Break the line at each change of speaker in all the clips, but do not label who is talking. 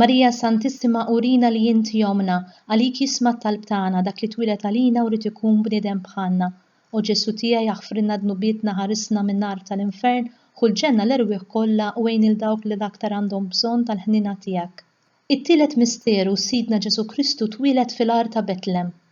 Marija Santissima urina li inti ommna, għalik jisma' t-talb tagħna dak li twieled għalina u ried ikun bniedem bħalna. O Ġesù tiegħi aħfrilna dnubietna ħarisna min-nar tal-infern, ħu l-ġenna l-erwieħ kollha u għin lil dawk li l-aktar għandhom bżonn tal-ħniena tiegħek. It-tielet misteru, Sidna Ġesù Kristu twieled fil-għar ta' Betlem.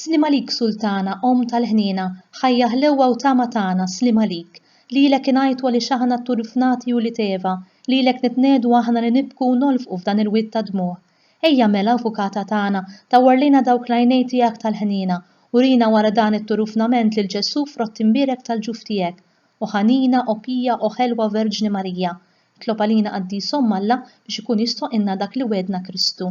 Sliem għalik Sultana, Omm tal-ħniena, Ħajja ħlewwa u tama tagħna, sliem għalik. Lilek ingħajtu għaliex aħna tturrfnati u li teva, lilek nitnegħdu aħna li nibku u nolfqu f'dan il-wied ta' dmugħ. Ejja mela, Avukata tagħna, dawwar lejna dawk l-għajnejn tiegħek tal-ħniena, urina wara dan it-turufnament lil Ġesù frott imbierek tal-ġuf tiegħek. O ħanina, o pija, o ħelwa Verġni Marija, itlob għalina Qaddis Omm Alla biex ikun jistħoqqilna dak li wegħdna Kristu.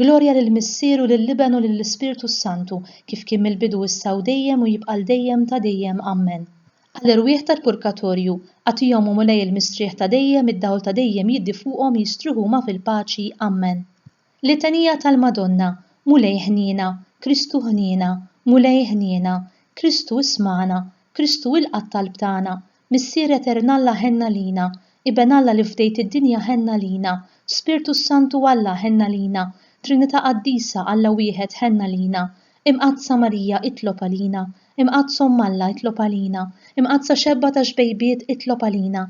Glorja lill-Missier u lill-Iben u lill-Ispirtu s-Santu, kif kien mill-bidu issa u dejjem u jibqa' għal dejjem ta' dejjem. Ammen. Għall-erwieħ tal-purgatorju, agħtihom, O Mulej il-mistrieħ ta' dejjem, id-dawl ta' dejjem jiddi fuqhom, jistrieħu huma fil-paċi. Ammen. Litanija tal-Madonna, Mulej ħniena, Kristu ħniena, Mulej ħniena, Kristu ismagħna, Kristu ilqa' t-talb tagħna, Missier Etern Alla ħenna lina, Iben Alla li fdejt id-dinja ħenna lina, Spirtu s-Santu Alla ħenna lina, Trinità Qaddisa Alla Wieħed ħenna lina, Imqaddsa Marija itlob għalina, Imqaddsa Omm Alla itlob għalina, Imqaddsa Xebba ta' xbejbiet itlob għalina,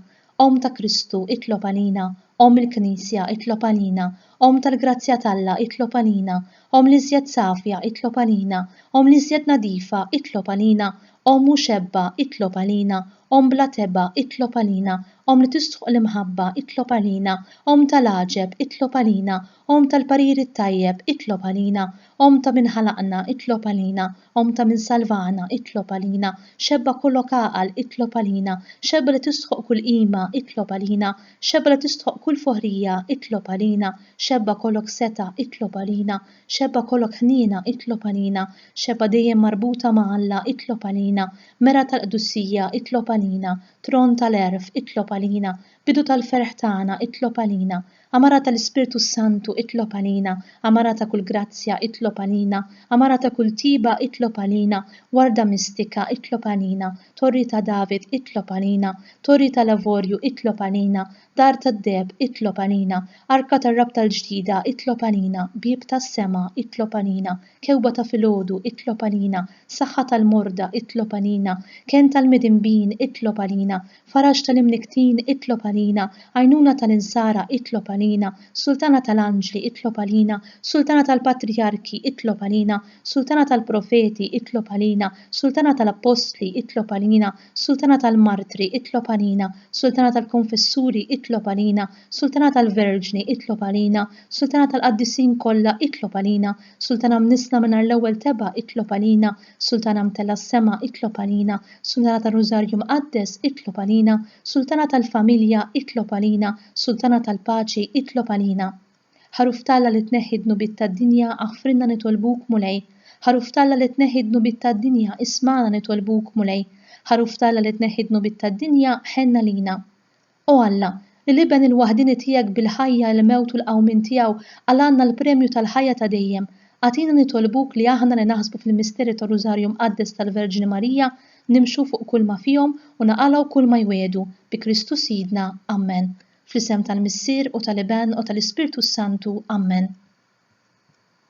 Omm ta' Kristu itlob għalina, Omm il-Knisja itlob għalina, Omm tal-grazzja t'Alla, itlob għalina. Omm l-iżjed safja, itlob għalina. Omm l-iżjed nadifa, itlob għalina. Omm mhu xebba, itlob għalina. Omm bla tebgħa, itlob għalina. Omm li tistħoq l-imħabba, itlob għalina. Omm ta' l-għaġeb, itlob għalina. Omm tal-pariri t-tajjeb, itlob għalina. Omm ta' min ħalaqna, itlob għalina. Omm ta' min salvana, itlob għalina, Xebba kollok għaqal, itlob għalina, Xebba li tistħoqq kull qima, itlob għalina, Xebba li tistħoqq kull foħrija, itlob għalina, Xebba kollok setgħa, itlob għalina, Xebba kollok ħniena, itlob għalina, Xebba dejjem marbuta ma' Alla, itlob għalina, Mera tal-qdussija, itlob għalina, Tron tal-għerf, itlob għalina, Bidu tal-ferħ tagħna, itlob għalina, Għamara tal-Ispirtu s-Santu itlob għalina, għamara ta' kull grazzja itlob għalina, għamara ta' kull tjieba itlob għalina, warda mistika itlob għalina, Torri ta' David itlob għalina, Torri tal-Avorju itlob għalina, Dar tad-Deheb itlob għalina, Arka tar-Rabta l-Ġdida itlob għalina, Bieb tas-Sema itlob għalina, Kewba ta' filgħodu itlob għalina, Saħħa tal-morda itlob għalina, Kenn tal-midinbin itlob għalina, Faraġ tal-imnikktin, itlob għalina, Għajnuna tal-insara, itlob għalina, Sultana tal-anġli, itlob għalina, Sultana tal-patrijarki, itlob għalina, Sultana tal-profeti, itlob għalina, Sultana tal-appostli, itlob għalina, Sultana tal-martri, itlob għalina, Sultana tal-konfessuri, itlob għalina, Sultana tal-verġni, itlob għalina, Sultana tal-qaddisin kollha, itlob għalina, Sultana mnissla mingħajr l-ewwel tebgħa, itlob għalina, Sultana mtella s-sema, itlob għalina, Sultana tar-Rużarju Mqaddes, itlob għalina, Sultana tal-familja, itlob għalina, Sultana tal-paċi, itlob għalina. Ħaruf t'Alla li tneħħi d-dnubiet tad-dinja, aħfrilna nitolbuk, Mulej. Ħaruf t'Alla li tneħħi d-dnubiet tad-dinja, ismagħna nitolbuk, Mulej. Ħaruf t'Alla li tneħħi d-dnubiet tad-dinja, ħenn għalina. O Alla, li l-Iben il-waħdieni tiegħek bil-ħajja, il-mewt u l-qawmien tiegħu qal' għandna l-premju tal-ħajja ta' dejjem, agħtina nitolbuk li aħna li naħsbu fil-misteri tar-Rużarju Mqaddes tal-Verġni Marija nimxu fuq kulma fihom u naqalgħu kulma jwiegħdu, bi Kristu Sidna. Ammen. Fl-isem tal-Missier u tal-Iben u tal-Ispirtu s-Santu. Ammen.